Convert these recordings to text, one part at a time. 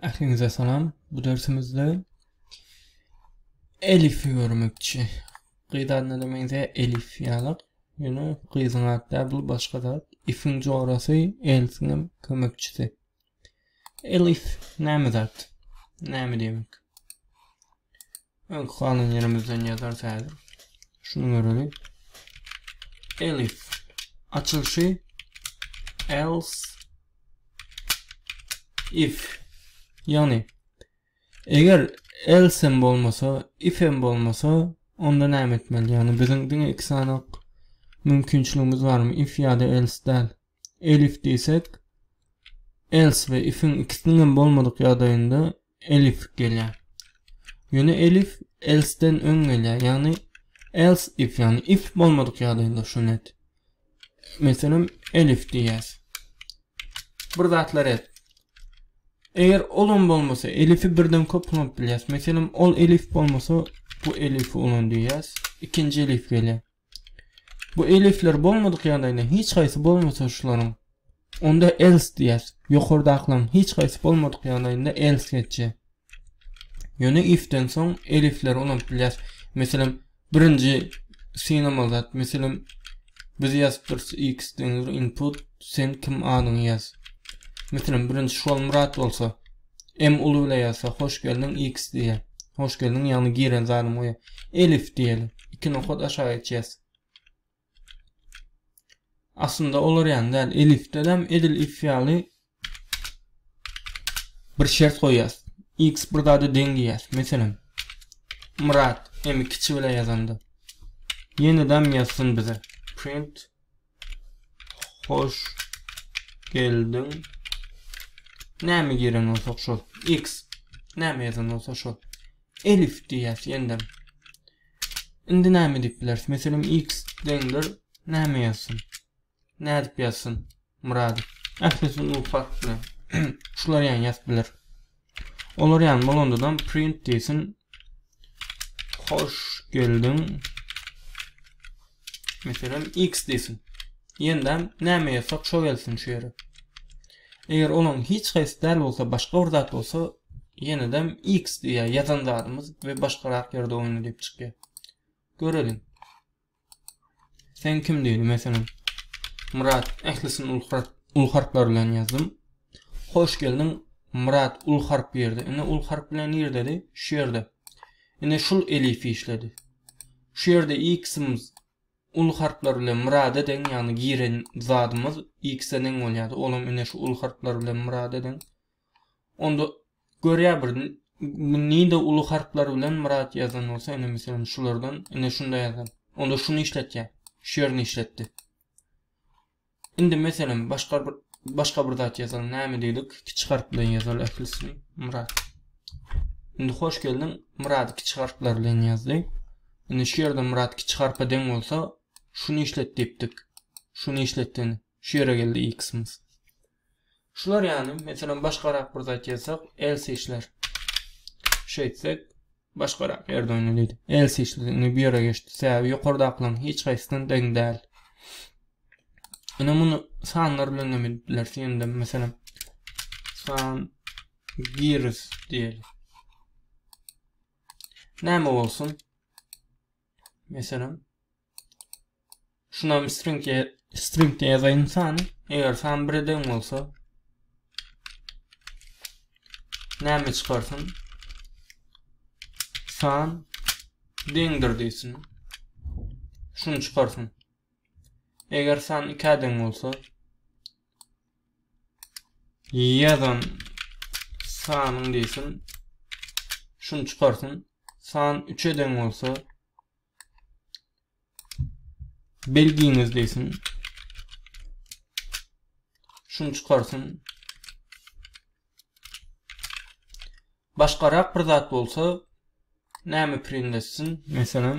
Ähliňize salam. Bu dersimizde Elifi görmekçi. Gyz adyna da meňze Elif ýalyk. Ýöne gyzyň ady da bu başga zat. Ifiň jorasy, Elfiň hem kömekçisi. Elif näme zat? Näme diýmek? Öňki kanun ýerimizden ýazarys häzir. Şunu göreli. Elif açylşy else if ýagny eger else hem bolmasa if hem bolmasa onda näme etmeli ýagny biziň diňe iki sany mümkinçiligimiz barmy if ýa-da else däl elif diýsek else we ifiň ikisiniň hem bolmadyk ýagdaýynda elif gelýär. Ýöne elif else-den öň gelýär. Ýagny else if ýagny if bolmadyk ýagdaýynda şu net. Meselem elif diýýäs. Bir zatlar et. Eger olam bolmasa elifi birden köp ulanyp bilýäs. Meselem ol elif bolmasa bu elifi ulan diýýäs. Ikinji elif gelýär. Bu elifler bolmadyk ýagdaýynda hiç haýsy bolmasa şularyň onda else diýýäs. Ýokardakylaryň hiç haýsy bolmadyk ýagdaýynda else geçýär. Ýöne ifden soň elifleri ulanyp bilýäs. Meselem, birinji synamaly zat, meselem, biz ýazyp durus x deňdir input, sen kim adyňy ýaz. Meselem, birinji Şolmyrat bolsa, M uly bile ýazsa hoş geldiň X diýýär. Hoş geldiň ýagny giren zadymy goýa. Elif diýeli. Iki nokat aşağı geçýäs. Aslynda olar ýany däl. Elifde hem edil if ýaly bir şert goýýas. X bir zada deň diýýäs. Meselem, Murat M kiçi bile ýazanda. Ýene dam ýazsyn bize. Print Hoş geldiň. Näme giren bolsa şol. X. Näme ýazan bolsa şol. Elif diýýäs ýende. Indi näme diýip bileris? Meselem X deňdir. Näme ýazsyn? Nädip ýazsyn? Murad. Ählisi nur fark bilen. Şular ýaly ýazyp biler. Olar ýaly bolandadam print diýsin. Hoş geldiň. Meselem x diýsin. Ýendem näme ýazsak şo gelsin şu ýere. Eger onuň hiç haýsy däl bolsa başga bir zat bolsa ýenedem x diýýär ýazan zadymyz we başgarak ýerde oýna diýip çykýar. Göreliň. Sen kim diýdi meselem. Murat ählisini uly harp uly harplar bilen ýazdym. Hoş geldiň Murat uly harp ýerde. Indi uly harp bilen ýerdedi? Şu ýerde. Indi şul elif işledi. Şu ýerde x-imiz uly harplar bilen Murada deň, ýagny giren zadymyz x-e deň bolýardy. Olam indi şu uly harplar bilen Murada deň. Onda görýä bir nide uly harplar bilen myrat ýazan bolsa ine meselem şulardan ine şunda ýazan. Onda şuny işletýä. Şu ýerini işletdi. Indi meselem başga bir başga bir zat ýazalyň. Näme diýdik? Kiçi harp bilen ýazaly ählisini. Myrat. Indi hoş geldiň. Myrat kiçi harplar bilen ýazdy. Indi şu ýerde Myrat kiçi harpa deň bolsa şuny işlet diýipdik. Şuny işletdin. Şu ýere geldi x-myz. Şular ýaly, meselem, başgarak bir zat ýazsak, else işler. Şeýtsek, başgarak ýerde oýnalydy. Else işledi, indi bu ýere geçdi. Sebäbi ýokardakylaryň hiç haýsysyna deň däl. Ine muny sanlar bilen hem edip bilersiň. Indi meselem, san giris diýeli. Näme bolsun? Meselem, Şunam string e, string e ýazaýyn sany. Eger san bire deň bolsa näme çykarsyn? San deňdir diýsin. Şuny çykarsyn. Eger san 2 deň bolsa ýazan sanyň diýsin. Şuny çykarsyn. San 3 deň bolsa belgiňiz diýsin. Şuny çykarsyn. Başgarak bir zat bolsa näme print etsin? Meselem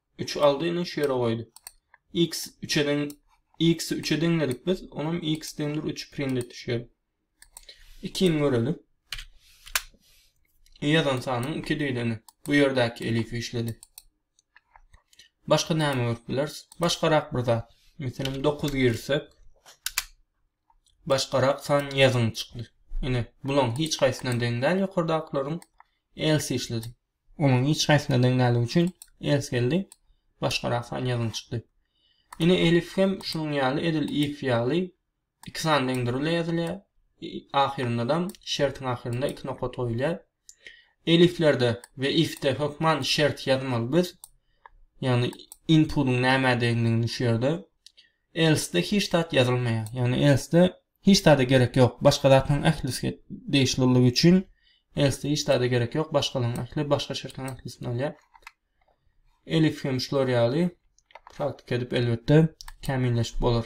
3 aldy indi şu ýere goýdy. X 3-e deň X-i 3-e deňledik biz. Onam X deňdir 3 print etdi şu ýere. 2-ni görelim. Ýazan sanyň 2 diýdeni. Bu ýerdäki elifi işledi. Başga näme görüp bileris? Başgarak bir zat. Meselem 9 girsek başgarak san ýazyn çykdy. Ine, bulaň hiç haýsyna deň däl ýokardaklaryň else işledi. Onuň hiç haýsyna deň däldigi üçin ers geldi, başgarak san ýazyn çykdy. Ine elif hem şunuň ýaly edil if ýaly iki san deňdir ile ýazylýar. Ahyryndadam şertiň ahyrynda iki nokat goýulýar. Eliflerde we ifde hökman şert ýazmaly biz. Ýagny inputyň nämädigini şu ýerde. Else-de hiç zat ýazylmaýar. Ýagny else-de Hiç zada gerek ýok, başga zatlaryň ählisi degişliligi üçin else hiç zada gerek ýok, başgalaryň ähli, başga şertleň ähli üstüni alýar. Elif hem şular ýaly praktika edip elbetde kämilleşip bolar.